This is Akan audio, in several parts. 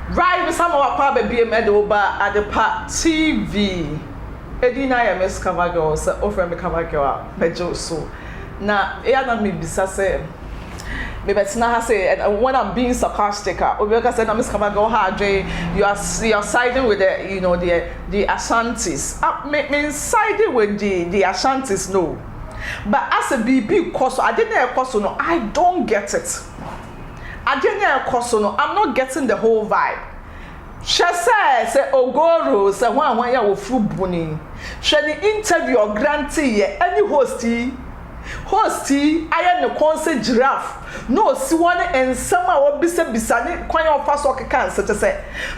Rai bisa ma wapa aba biem ɛde wo ba Adepa TV edin no ayɛ Miss Cover Girl sɛ wo frɛ me Cover Girl a mɛgye wo so na eya na me bisa sɛ me bɛ tena ha sei and when I'm being sarcastic a obi bɛka sɛ na Miss Cover Girl ha adwen you are you are siding with the you know the the Ashantis a me me siding with the the Ashantis no but asɛ biribi kɔ so ade na ɛkɔ so no I don't get it. Adeɛ no a ɛkɔ so no I'm not getting the whole vibe Hwɛ sɛ sɛ Ogoro sɛ hwan hwan yi a wɔfiri Boni Hwɛ ne interview a ɔgranteeɛ ɛne host yi Host yi ayɛ ne kɔn sɛ giraffe na ɔsi hɔ ne nsɛm a ɔbisabisa ne kwan a ɔfa so ɔkeka nsɛ kyɛ sɛ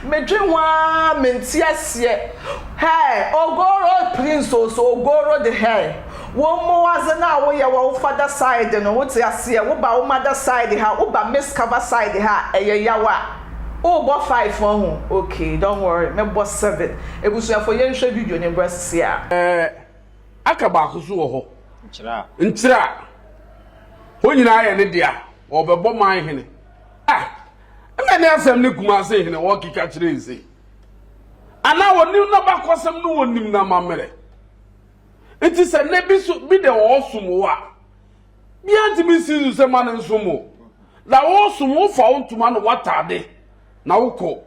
medwen ho ara mente aseɛ Hɛɛ Ogoro prince o so Ogoro de hɛɛ Wo mbowadze no a woyɛ wɔ wo fada side no, wotse aseɛ, woba wo mada side ha, woba Miss Kava side ha a, ɛyɛ yaw a. Wobɔ five ho ahu? Ok, don't worry, mɛbɔ seven. Ebusuafo yɛnhwɛ video no mbrɛ ɛsisi a. Ɛɛ, aka baako so wɔ hɔ. Nkyerɛ a. Nkyerɛ a. Hɔ nyinaa yɛ ne dea, ɔrebɛbɔ man hene. Ah! Ɛna ne asɛm ne Kumase hene ɔrekeka kyerɛ yi sei. Anaa ɔnim n'abakɔsɛm no ɔnim no amammerɛ. Ntsi sɛ ndɛ bi so bi dɛ ɔɔsom wo a, biara nntumi nnsi do sɛ ma no nsom wo. Dza ɔɔsom wo, wofa wo ntoma na w'atade na wokɔ.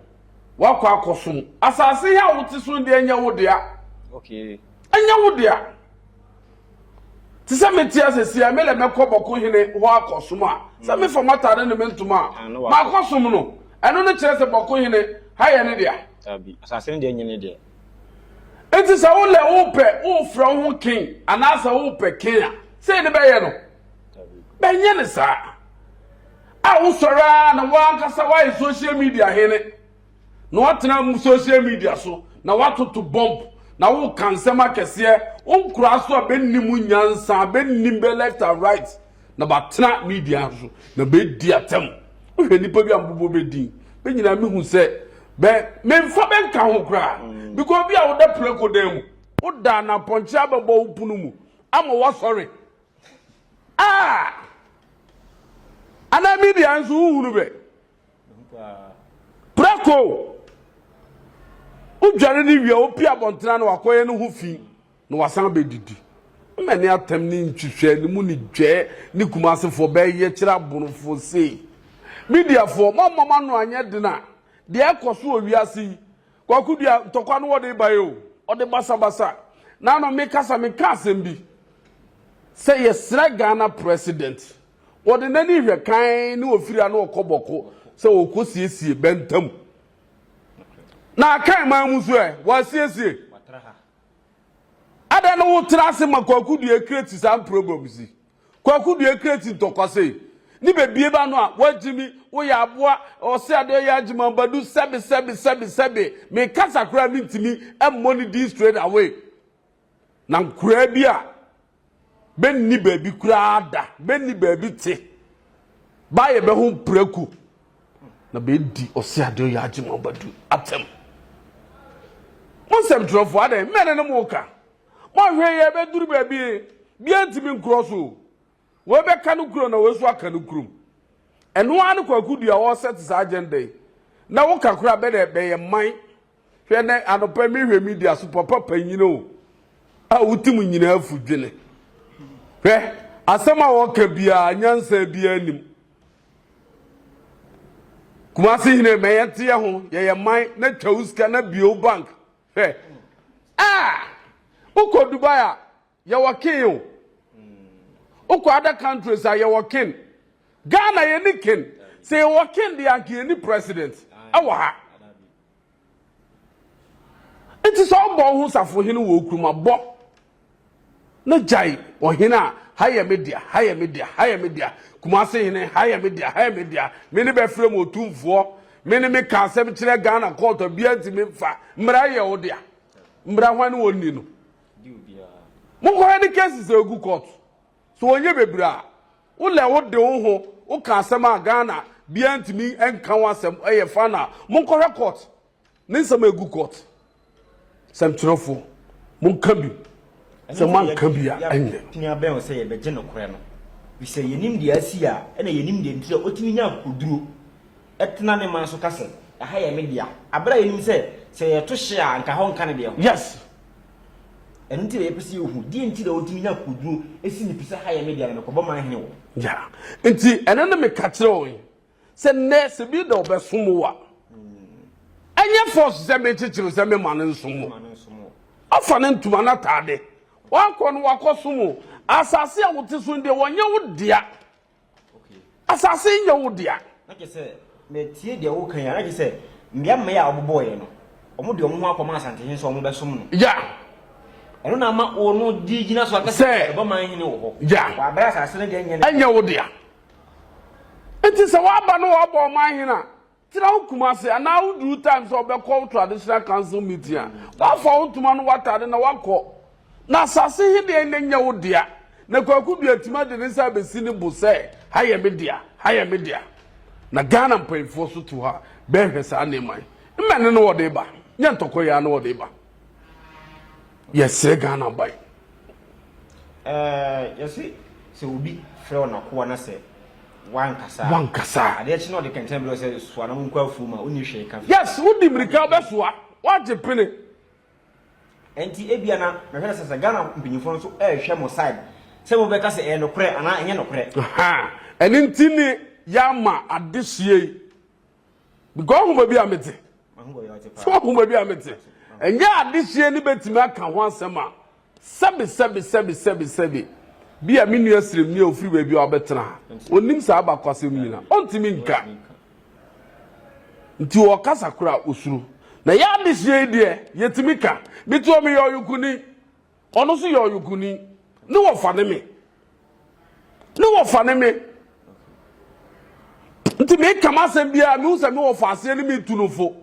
Wɔakɔ akɔsom. Asaase he a wote so no deɛ nyɛ wo dea. Ɛnyɛ wo dea. Te sɛ mete a sɛsi a, me lɛ mɛkɔ bɔko hene hɔ akɔsom a, sɛ mm. mefa m'atade ne me ntoma a, ah, maakɔsom no. Ɛno no kyerɛ sɛ bɔko hene ha yɛ ne dea. Asase no deɛ nyɛ ne deɛ. Enti sɛ wo lɛ wopɛ wofrɛ wo ho ken anaasɛ wopɛ ken a, sɛ ne bɛyɛ no bɛnyɛ ne saa a wosɔre a na woankasa woayɛ social media hene na woatena mu social media so na woatoto bɔmp na woka nsɛm akɛseɛ wonkora so a bɛnni mu nyansa bɛnni bɛ left and right Na bɛatena me dua so, na bɛadi atɛm. Wohwɛ nnipa bi a mobobɔ bɛ din, bɛ nyinaa mehu sɛ bɛ memfa bɛ nka ho koraa. Because bi a woda prako dan mu, woda na pɔnkye abɛbɔ wo pono mu ama woasɔre a, anaa me dua nso wohunu bɛ. Prako! Wodware no wie a, wopie abɔntene a na wakɔyɛ no ho fi. Na wɔasan abɛdidi. Mmɛ ne atɛm ne nhwehwɛanimu ne dwɛɛ ne Kumasefoɔ bɛyɛ kyerɛ aborofoɔ sei? Mediafoɔ, moamma mo ano anyɛ den a, deɛ ɛrekɔ so wɔ wiase yi, Kwaku Duah ntɔkwa no wɔde baeɛ o, ɔde basabasa. Na ano mekasa mekaa asɛm bi sɛ yɛsrɛ Ghana President, ɔde n'ani hwɛ kann ne ɔfiri a na ɔkɔ bɔko sɛ ɔrekɔsiesie Bɛnta mu. Na Akan man mu nso ɛ, wɔasiesie? Adɛn ne wo tra ase ma Kwaku Duekire te saa mproblems yi? Kwaku Duekire te ntɔkwa sei. Ne bɛ bie ba no a, w'agyimi, wo yɛ aboa, ɔse ade ɔyɛ agyimi ambadu, sɛbe sɛbe sɛbe sɛbe. Me kasa koraa me ntimi mmɔ ne din straight away. Na nkoraa bi a. bɛnni baabi koraa da bɛnni baabi te ba yɛbɛ ho mprako na bɛdi ɔse adeɛ yɛ agye ma badu atɛm mo nsɛmtwerɛfoɔ adɛn mmɛne no mo ka moahwɛ yɛ bɛduru baabi bia ntimi nkorɔ so wɔbɛka no kuro na wɔsu aka no kurom ɛno ara ne kwaku dua wɔsɛ te saa agenda yi na woka koraa bɛdɛ bɛyɛ man Hwɛ nɛ anɔpa yi mehwɛ media so papa panyin o a wotim nyinaa fu dwene. Hwɛ asɛm a wɔka biara nyansa biara nim. Kumase hene ma yɛnteɛ ho yɛyɛ man na twa wo sika na bio bank. Hwɛ a wokɔ Dubai a Yɛwɔ ken o. Wokɔ other countries a yɛwɔ ken. Ghana yɛnni ken. Sɛ yɛwɔ ken deɛ anka yɛnni president wɔ ha. Nti sɛ wobɔ wo ho safohene wɔ wo kurom a, bɔ na gyae ɔhene a ha yɛ me dea, ha yɛ me dea, ha yɛ me dea, Kumase hene, ha yɛ me dea, ha yɛ me dea, me ne bɛfrɛ mu otumfoɔ, me ne meka asɛm kyerɛ Ghana court a biara ntumi mfa, mmara yɛ wo dea. Mmara hwan ne wɔn nni no? Monkɔhwɛ ne cases a egu court so ɔnyɛ bebree a wo lɛ wo de wo ho wo ka asɛm a Ghana biaa ntumi nka ho asɛm ɛyɛ fine a monkɔhwɛ court ne nsɛm a egu court sɛmtwerɛfoɔ monka bi sɛ moanka bi a ɛnyɛ. Tumi abɛn wo sɛ yɛbɛgye nokorɛ no. Ɛfiri sɛ yɛnim deɛ asi a ɛna yɛnim deɛ nti a ɔtumi nya akokoduro. tena ne man so ka sɛ, Ɛha yɛ me dea, bere a yenim sɛ, sɛ yɛto hye a anka hɔ nka ne deɛ ho. Yes! Ɛno nti na yɛpɛ sɛ yehu deɛ nti na otumi nya akokoduru si ne pi sɛ, Ha yɛ me dea, na mekɔbɔ man hene wɔ. Yeah. Nti ɛno ne meka kyerɛ wɔn yi, sɛ nnɛ sɛ bi da ɔbɛsom wo a, ɛnyɛ force sɛ merekyekyere wo sɛ memma no nsom wo. Ɔfa ne ntoma n'ataade, wakɔ no wakɔsom wo. Asase a wote so no deɛ, wɔnyɛ wo dea. Asase nyɛ wo dea. Na kyerɛ sɛ matie deɛ woka yi a, na kyerɛ sɛ mmea mma yi a wɔbobɔeɛ no, wɔde wɔn ho akɔma Asantehene sɛ wɔbɛsom no. Ya. Ɛno na ama wɔn no di gyina so aka sɛ ɛbɔ man hene wɔ hɔ. Ya. Wɔ abere asase no deɛ nyɛ ne dea. Ɛnyɛ wo dea. Nti sɛ wɔaba no wɔabɔ ɔman hene a, Tra wo Kumasi anaa wo duru time sɛ wobɛkɔ wo traditional council meeting a, woafa wo ntoma ne w'atade na woakɔ. Na asase he deɛ na ɛnyɛ wo dea. Na Kwaku Duah atumi ade ne nsa abɛsi ne bo sɛ, ha yɛ me dea, ha yɛ me dea. Na Ghana mpayifoɔ so te hɔ a bɛɛhwɛ saa nneɛma yi. Mmɛne ne wɔde ba, nyɛ ntɔkwa yi ara ne wɔde ba. Yɛsrɛ Ghana ban. Yɛse sɛ obi frɛ wo n'akoa na sɛ wankasa wankasa adeɛ kye na ɔde kɛntɛn berɛ sɛ soa na monkɔ afuo mu a wonni hwee ka yes wodi mmirika wobɛsoa woagye pene ɛnti ebia na mehwɛ sɛ sɛ Ghana mpanyinfoɔ no nso ɛrehwɛ mo side sɛ mobɛka sɛ ɛyɛ nokorɛ anaa ɛnyɛ nokorɛ ɛne nti ne yɛama adehyeɛ yi bikɔ ahoma bi a mete sɛ ahoma bi a mete ɛnyɛ adehyeɛ no bɛtumi aka ho asɛm a sɛbe sɛbe sɛbe sɛbe sɛbe bi a me nua siremni a ofiri baabi a ɔbɛtena ha ɔnim saa abakwasɛm nyina ɔntumi nka nti ɔkasa kora osuro na yɛ adehyeɛ yi deɛ yɛtumi ka mete ɔ meyɛ ɔyokoni Ɔno nso yɛ ɔyokuni. Ne wɔfa ne me. Ne wɔfa ne me. Nti meka m'asɛm biara mehu sɛ me wɔfa aseɛ ne metu no fo.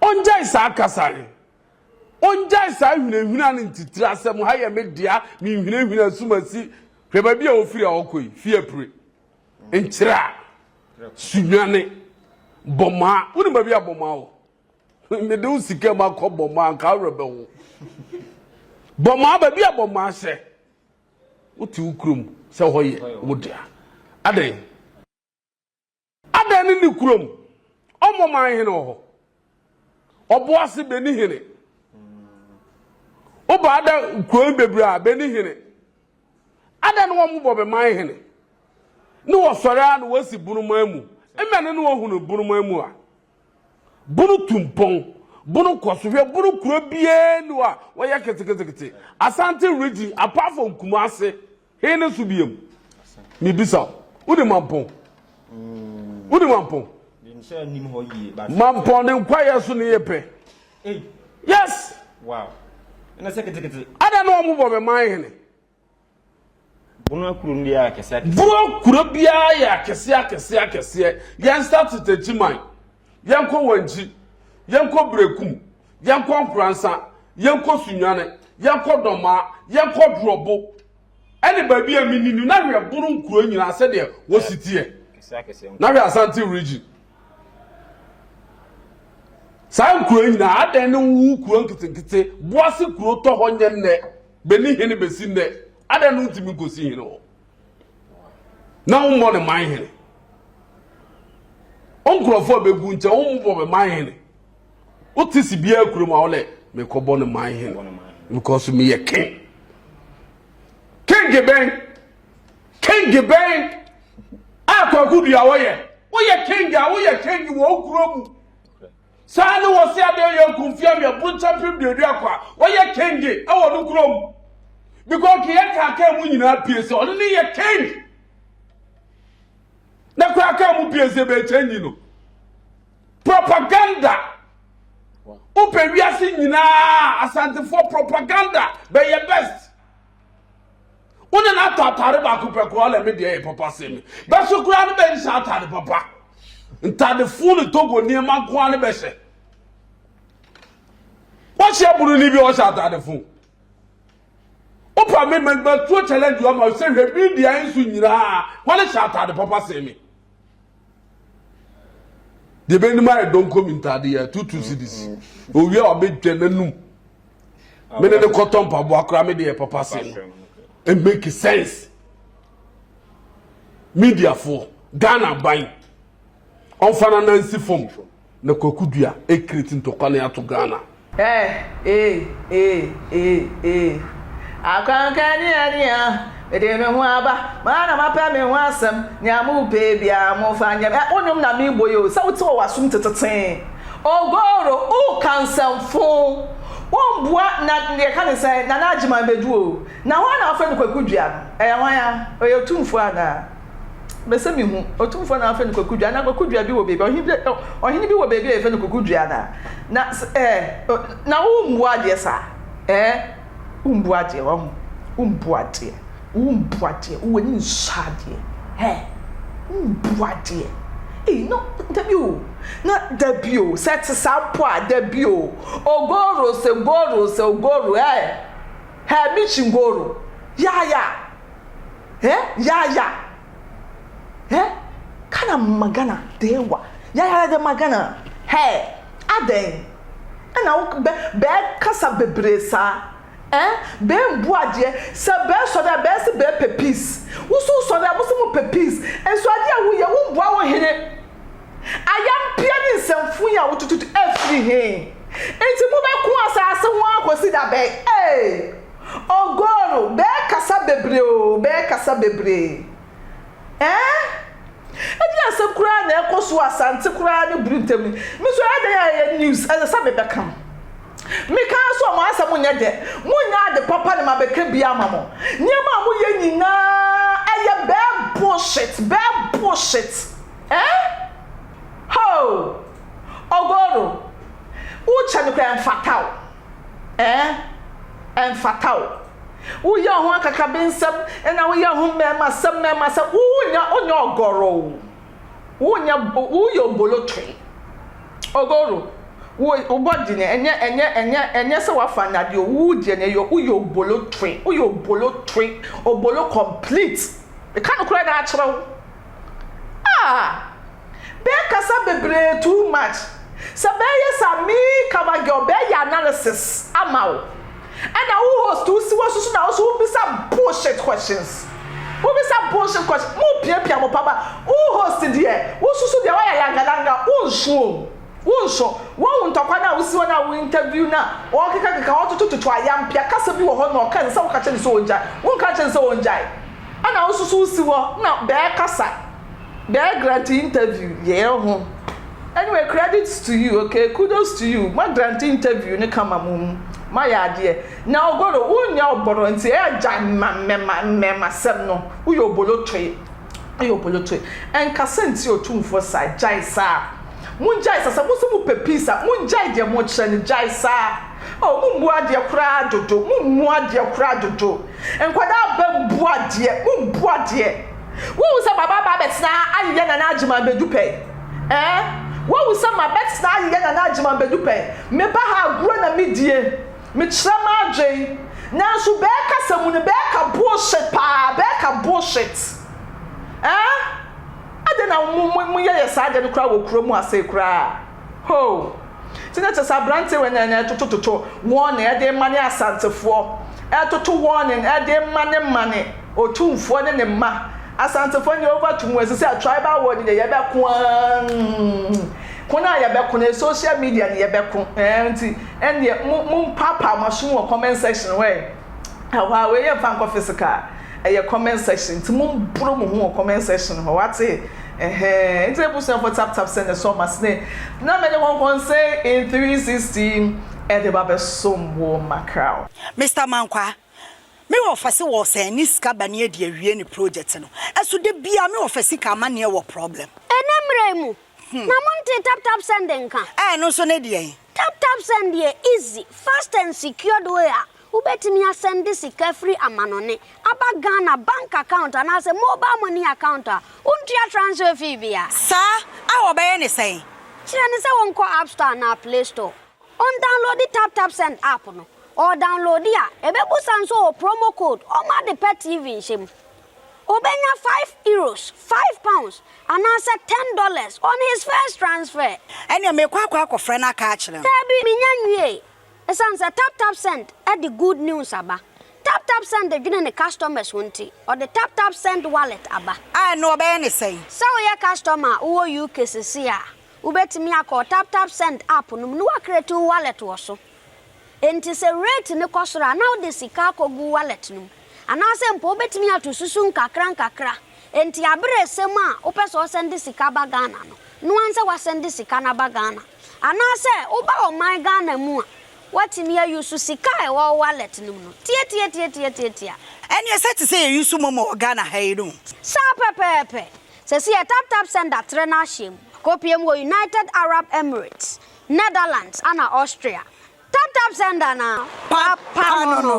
Ɔngyae saa kasa no. Ɔngyae saa hwinahwina no ntitiri asɛm ha yɛ me dea menhwinahwina asumasi hwɛ baabi a ɔfiri a ɔkɔ yi fie apire nkyerɛ a sunwane bɔmaa wonim baabi a bɔmaa wɔ Mede wo sika mu akɔ bɔmmɔ anka awerɛ bɛho. Bɔmmɔ aba bi a bɔmmɔ ahyɛ. Wote wo kurom sɛ hɔ yɛ wo dea. Adɛn? Adɛn ne ne kurom? Ɔmmɔ man hene wɔ hɔ. Ɔboase bɛni hene. Woba ada kurom bebree a bɛni hene. Adɛn ne wɔn bɔ bɛman hene? Ne wɔsɔre a na wɔasi bonoman mu. Mmɛ ne ne wɔhunu bonoman mu a. Bono tu mpɔn, Bono kɔ so hwɛ, Bono kuro biara nni hɔ a wɔyɛ ketekete, Asante region apart from Kumasi, he ne so biam? Mebisa wo, wonim Mampɔn? Wonim Mampɔn? Mampɔn ne nkwayɛ so ne yɛ pɛ. Yes! Ada na wɔn bɔ me man hene. Bono kuro no yɛ akɛseɛ akɛseɛ. Bono kuro biara yɛ akɛseɛ akɛseɛ akɛseɛ. Yɛn start Takyiman, yɛn kɔ Wankyi, yɛn kɔ Berekum, yɛn kɔ Nkoransa, yɛn kɔ Sunyane, yɛn kɔ Dɔmaa, yɛn kɔ Drɔbo, ɛne baabi a mini ni. Na hwɛ Bono nkuro nyinaa sɛdeɛ wɔsi teɛ. Na hwɛ Asante region. Saa nkuro nyinaa adɛn ne wo kuro nketenkete boase kuro tɔ hɔ nyɛ nnɛ. bɛni hene bɛsi nnɛ adɛn no ntumi nkɔsi hene hɔ na wommɔ ne man hene wo nkurɔfoɔ a bɛgu nkyɛ wommobɔ me man hene wote si biara kurom a wodɛ mekɔbɔ ne man hene because meyɛ king king bɛn king bɛn a kwakodua wɔyɛ woyɛ king a woyɛ king wɔ wo kuro mu Saa ne wɔse adeɛ yɛ nkumfie awi aburokya pem duaduako a ɔyɛ kenge ɛwɔ no kurom. Bikɔ keyɛ kaa kaa mu nyinaa pie sɛ ɔno ne yɛ keng. Na kɔ aka mu pie sɛ bɛkyɛ nyi no. Propaganda. Wopɛ wiase nyinaa asantefoɔ propaganda bɛyɛ best. wo ne no atɔ atade baako pɛ koraa na me deɛ yɛ papa sɛ me bɛso koraa no bɛyi saa atade papa ntade fo ne togo nneɛma nkoa no bɛhyɛ wɔhyɛ bunu ni bi wɔhyɛ atade fo wopa me mɛtuo challenge ɔma sɛ hwɛ bi deɛ nso nyinaa wɔne hyɛ atade papa sɛ me deɛ bɛnim ayɛ dɔnkɔ mi ntaade yɛ two two cedis owia a ɔbɛtwa n'anum mene ne kɔtɔ mpaboa koraa me deɛ papa se no it make sense mediafoɔ ghana ban ɔmfa no nansi fam Na kwaku dua ɛkreti ntɔkwa ne ato Ghana. Ɛɛ ee ee ee ee Akwankani ania mede me ho aba Maa na mapɛ me ho asɛm Nea mo pɛ biaa mo fa nyɛ me Wo nwom na me bɔ yi o Sɛ wo te wɔ w'asom tetetee Ogoro wo ka nsɛm foo Wo mboa na yɛka ne sɛn Nana Agyeman bɛdu o Na hwan na wafrɛ no kwaku dua no Ɛyɛ hwan a? Ɔyɛ otumfoɔ anaa? Mese mehu Otumfoɔ na wɔfrɛ no Kwaku Dua. Na Kwaku Dua bi wɔ baabi, ɔhene bi, ɔhene bi wɔ baabi a yɛfrɛ no Kwaku Dua na na eh, na wombu adeɛ saa eh, wombu adeɛ wahu, wombu adeɛ, wombu adeɛ, wo ani nsɔ adeɛ eh, wombu adeɛ. Ei, no, dabi o, na dabi o, sɛ ɛte saa mpo a, dabi o, ogoro, sɛ goro, sɛ ogoro eh, eh, michi ngoro, ya ya. eh yaya eh kana magana dewa yaya de magana hey adɛn ɛna wo bɛ bɛɛkasa bebree saa eh bɛɛmbu adeɛ sɛ bɛɛsɔ dɛ bɛɛse bɛɛpɛ peace woso wosɔ dɛ mose mopɛ peace nso adeɛ a woyɛ wombua wo hene ayampia ne nsɛmfo yi a wotututu afiri he nti mobɛko asaase ho akɔsi da bɛn ee. Ogoro, bɛɛ kasa bebree oo, bɛɛ kasa bebree eh. Ɛnyɛ asɛm koraa na ɛkɔ so wɔ Asante koraa ne Bru ntam yi. Me nso ɛyɛ dɛn a ɛyɛ news, ɛsɛ sɛ mebɛka. Meka ara sɛ wɔn asɛm nyɛ dɛ, monnya ade papa na mabɛka bi ama mo. Nneɛma a moyɛ nyinaa ɛyɛ bɛɛ bullshit, bɛɛ bullshit eh. Hoo, Ogoro, wokyɛ me koraa ɛmfata wo. Ɛɛ, ɛmfata o. Woyɛ wo ho akakabensɛm na woyɛ wo ho mmarimasɛm mmarimasɛm. Wonyɛ wonyɛ ɔgɔrɔ o. Wonyɛ woyɛ obolotoe. Ogoro, wo wo body no ɛnyɛ ɛnyɛ ɛnyɛ ɛnyɛ sɛ woafa nnade o, wo deɛ no ɛyɛ woyɛ obolotoe, woyɛ obolotoe, obolo complete. Meka nokorɛ no ara kyerɛ wo. Ah! Bɛɛ kasa bebree too much Sɛ bɛɛ yɛ sa a me cover girl bɛɛ yɛ analysis ama wo Ɛna wo host wo si wo so so na wo so wo bisa bullshit questions Wo bisa bullshit questions Mo piapia mo paba Wo host deɛ wo susu deɛ wayɛ langalanga wo nsuo Wo nso, woahu ntɔkwa no a wosi wɔn a wo interview no a wɔkekakeka, wɔtotototo ayampia kasa bi wɔ hɔ na ɔka nsɛ woka kyerɛ no sɛ ɔngyae, wonka nkyerɛ no sɛ ɔngyae ɛna wo nso so wosi hɔ na bɛɛ kasa, bɛɛ grante interview yɛɛ ho anyway credits to you okay kudos to you ma grante interview no kama mo mu ma yɛ adeɛ na ogoro wo nyɛ ɔbɔrɔ nti ɛɛ gyae mma mmɛma mmɛma sɛm no woyɛ obolotoe. Ayo Boloto nka sɛ nti otumfoɔ saa gyae saa mongyae saa sɛ mo sɛ mo pɛ peace a mongyae deɛ mo kyerɛ no gyae saa oh mo mmu adeɛ koraa dodo mo mmu adeɛ koraa dodo nkwadaa aba mbu adeɛ mo mbu adeɛ wohu sɛ baba aba abɛtena ayeyɛ nana agyeman bɛdu pɛ eh wohu sɛ ma bɛtena ayeyɛ nana agyeman bɛdu pɛ meba ha agorɔ na medie Mekyerɛ m'adwen nanso bɛɛ kasa mu no bɛɛ ka bullshit paa bɛɛ ka bullshit eh adɛn na mo mo mo yɛ yɛ saa adeɛ no koraa wɔ kuro mu asee koraa hoo nti na kyɛ sɛ abranteɛ wɛ na na ɛtoto toto warning ɛde mma ne asantefoɔ ɛtoto warning ɛde mma ne mma ne otumfoɔ ne ne mma asantefoɔ ne over to mu ɛsɛ sɛ tribal war ne yɛ yɛ bɛko aah ko no a yɛ bɛko no social media ne yɛ bɛko eh nti Ɛndeɛ mo mo mpaapaa mo asom wɔ comment section hɔ ɛɛ ɛhɔ a wei yɛ nfa nkɔ physical ɛyɛ comment section nti mo mboro mo ho wɔ comment section hɔ wate ɛhɛɛ nti abusuafoɔ tap tap sɛnɛ sɔ ɔmo ase ne na mɛ de kɔnkɔnsɛn in 360 ɛde ba bɛ som wɔ macrao. Mister Mankwaa, me wɔfa se wɔsɛn ne sika ba ne adi awie ne project no, ɛso da biaa me wɔfa sika ama neɛ wɔ problem. Ɛnɛ mmerɛ mu, Na montee tap tap send nka? Ɛɛ ɛno nso ne deɛn? Tap tap send yɛ easy, fast and secured way a wobɛtumi asɛnde sika firi amanɔne aba Ghana bank account anaasɛ mobile money account a wontua transfer fee biara. Saa a wɔbɛyɛ ne sɛn? Kyerɛ no sɛ wɔnkɔ app store anaa play store, ɔndownloadi tap tap send app no, ɔredownloadi a ɛbɛbusa nso wɔ promo code ɔma ade pa TV nhyɛ mu. Obenya five euros, five pounds, anaasɛ ten dollars on his first transfer. Ɛnneɛ mekɔ akɔ akɔfrɛ no aka akyerɛ no. Daabi, mennya nwiei. Esiane sɛ TapTapSend de good news aba, TapTapSend dwene ne customers ho nti, ɔde TapTapSend Wallet aba. A, ɛnneɛ wɔbɛyɛ no sɛn? Sɛ woyɛ customer a wowɔ UK seesei a, wobɛtumi akɔ TapTapSend app no mu na woacreate wo wallet wɔ so. Enti sɛ rate no kɔ soro a, na wode sika akɔgu wallet no mu. Anaasɛ mpo wobɛtumi ato susu nkakrankakra. Enti aberɛ resɛm a wopɛ sɛ ɔsɛnde sika ba Ghana no, noa nsɛ wasɛnde sika no aba Ghana. Anaasɛ woba ɔman Ghana mu a, woatumi a use sika a ɛwɔ wo wallet no mu no. Tiatiatiatiatiatia. Ɛneɛ sɛ te sɛ yɛ use momo wɔ Ghana ha yi no. Saa pɛpɛɛpɛ. Seesei yɛ taptapsend atrɛ no ahyɛm. Akɔpie mu wɔ United Arab Emirates. Netherlands ana Austria? Tap tap send ana papa no no.